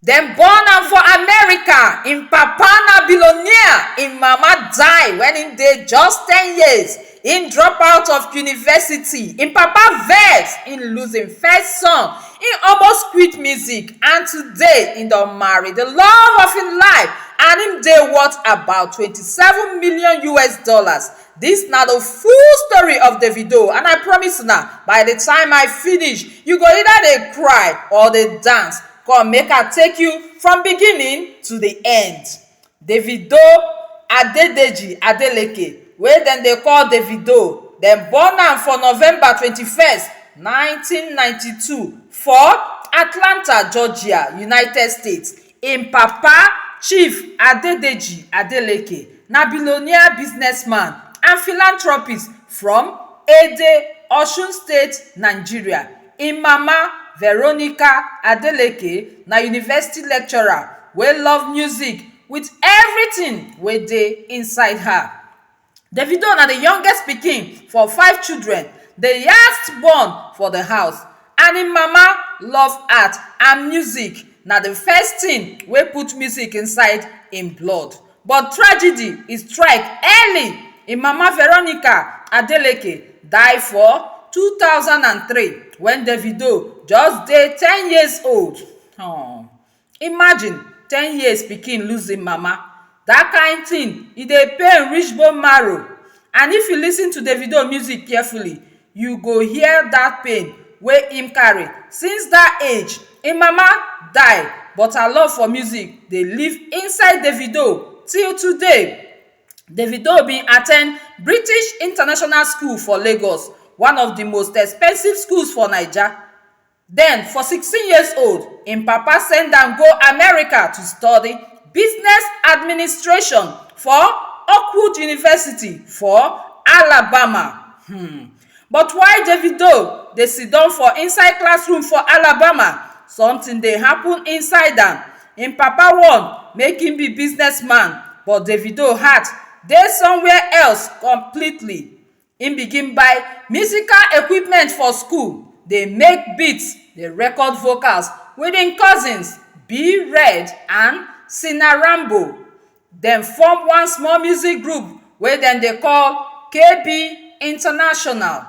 dem born am for america im papa na billionaire im mama die wen im dey just ten years im drop out of university im papa vex im lose im first son im almost quit music and today im don marry di love of im life and im dey worth about twenty seven million us dollars This na the full story of Davido and I promise una by the time I finish you go either dey cry or dey dance come make I take you from beginning to the end. Davido Adedeji Adeleke wey dem dey call Davido dem born am for November twenty first nineteen ninety two for Atlanta Georgia United States. Im papa, Chief Adedeji Adeleke, na billionaire businessman and philanthropist from Ede, Osun State, Nigeria. Im mama, Veronica Adeleke, na university lecturer wey love music with everything wey dey inside her. Davido na di youngest pikin for five children, di last born for di house and im mama love art and music, na di first tin wey put music inside im blood. But tragedy e strike early, im mama Veronica Adeleke die for two thousand and three wen Davido just dey ten years old. um Imagine ten years pikin lose im mama, dat kind thing e dey pain reach bone marrow and if you lis ten to Davido music carefully you go hear dat pain wey im carry since dat age. Im mama die but her love for music dey live inside Davido till today. Davido bin attend British International School for Lagos, one of di most expensive schools for Naija. Den, for sixteen years old, im papa send am go America to study Business Administration for Oakwood University for Alabama. Hmm. But while Davido dey siddon for inside classroom for Alabama, something dey happen inside am. Im papa wan make im be businessman, but Davido heart dey somewhere else completely. Im begin buy musical equipment for school, dey make beats, dey record vocals with im cousins B-Red and Sinarambo. Dem form one small music group wey dem dey call KB International.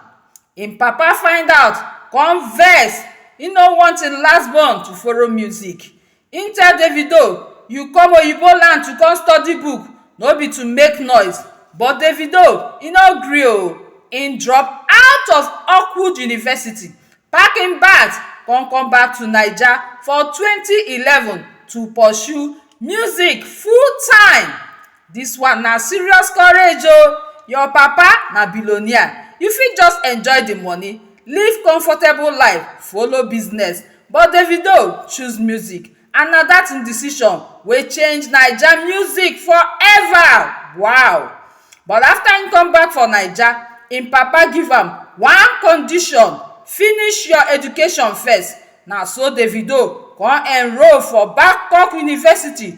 Im papa find out come vex, e no want im last born to follow music. Im tell Davido, You come oyibo land to come study book, no be to make noise. But Davido, e no gree o. Im drop out of Oakwood University, pack im bags come come back to Naija for twenty eleven to pursue music full time. Dis one na serious courage oh, your papa na billionaire, you fit just enjoy di money, live comfortable life, follow business but Davido choose music and na dat im decision wey change Naija music for ever wow. But after im come back for Naija, im papa give am one condition, finish your education first, na so Davido kon enroll for Babcock University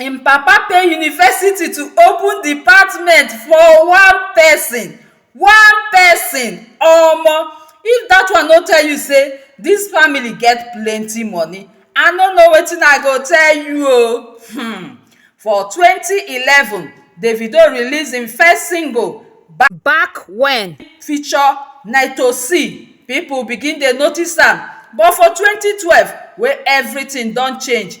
im papa pay university to open department for one person one person omo if that one no tell you say this family get plenty money i no know wetin i go tell you o hmm for twenty eleven davido release him first single back when feature naito c people begin dey notice am but for twenty twelve wey everything don change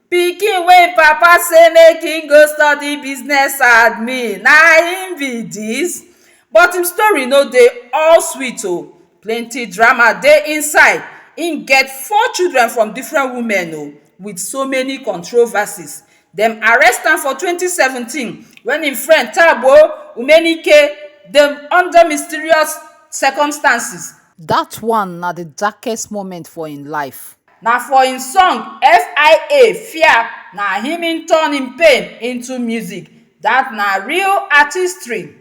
Pikin wey im papa say make im go study business admin na im be dis but im story no dey all sweet o plenty drama dey inside im get four children from different women o with so many controversies dem arrest am for twenty seventeen when im friend Tabo Umenike dem under mysterious circumstances. Dat one na di darkest moment for im life. Na for im song SIA, Fear na im im turn im pain into music. Dat na real artistry.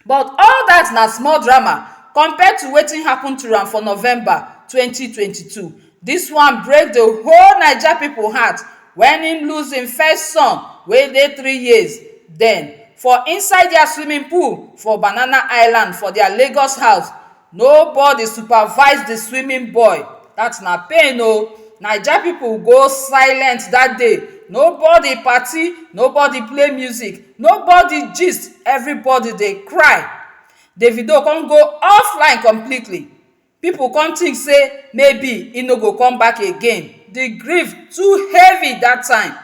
But all dat na small drama compare to wetin happen to am for November twenty twenty two. Dis one break the whole Naija pipu heart wen im lose im first son wey dey three years den for inside dia swimming pool for Banana Island for dia Lagos house. No body supervise the swimming boy that na pain oh Naija people go silent that day No body party No body play music No body gist Everybody dey cry Davido come go offline completely People come think say maybe he no go come back again The grief too heavy that time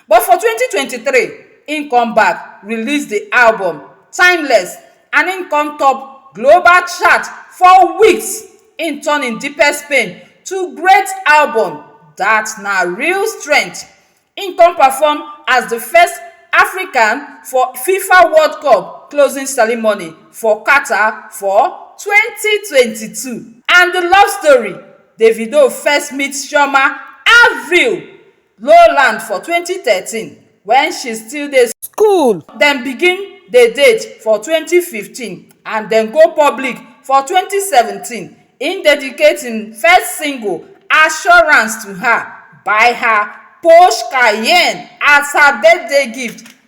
But for twenty twenty three, im come back release di album Timeless and im come top global chart four weeks, im turn im deepest pain to great album dat na real strength. Im come perform as di first African for fifa world cup closing ceremony for Qatar for twenty twenty two. And di love story, Davido first meet Chioma Avril Lowland for twenty thirteen wen she still dey school. Dem begin dey date for twenty fifteen and dem go public for twenty seventeen. Im dedicate im first single Assurance to her, buy her Porsche Cayenne as her birthday gift.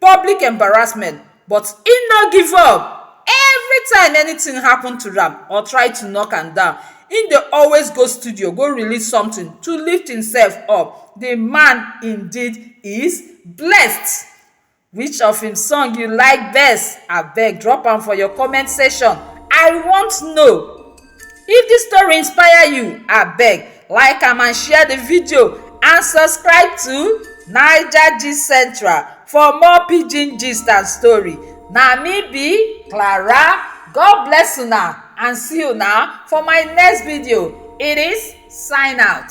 public embarrassment but e no give up. Everytime anything happen to am or try to knock am down, e dey always go studio go release something to lift himself up. The man indeed is blessed. Which of him song you like best? Abeg drop am for your comment section. I want know. If this story inspire you, abeg like am and share the video and subscribe to Naija Gist Central for more pidgin gist and story. Na me be Clara. God bless una and see una for my next video. It is sign out.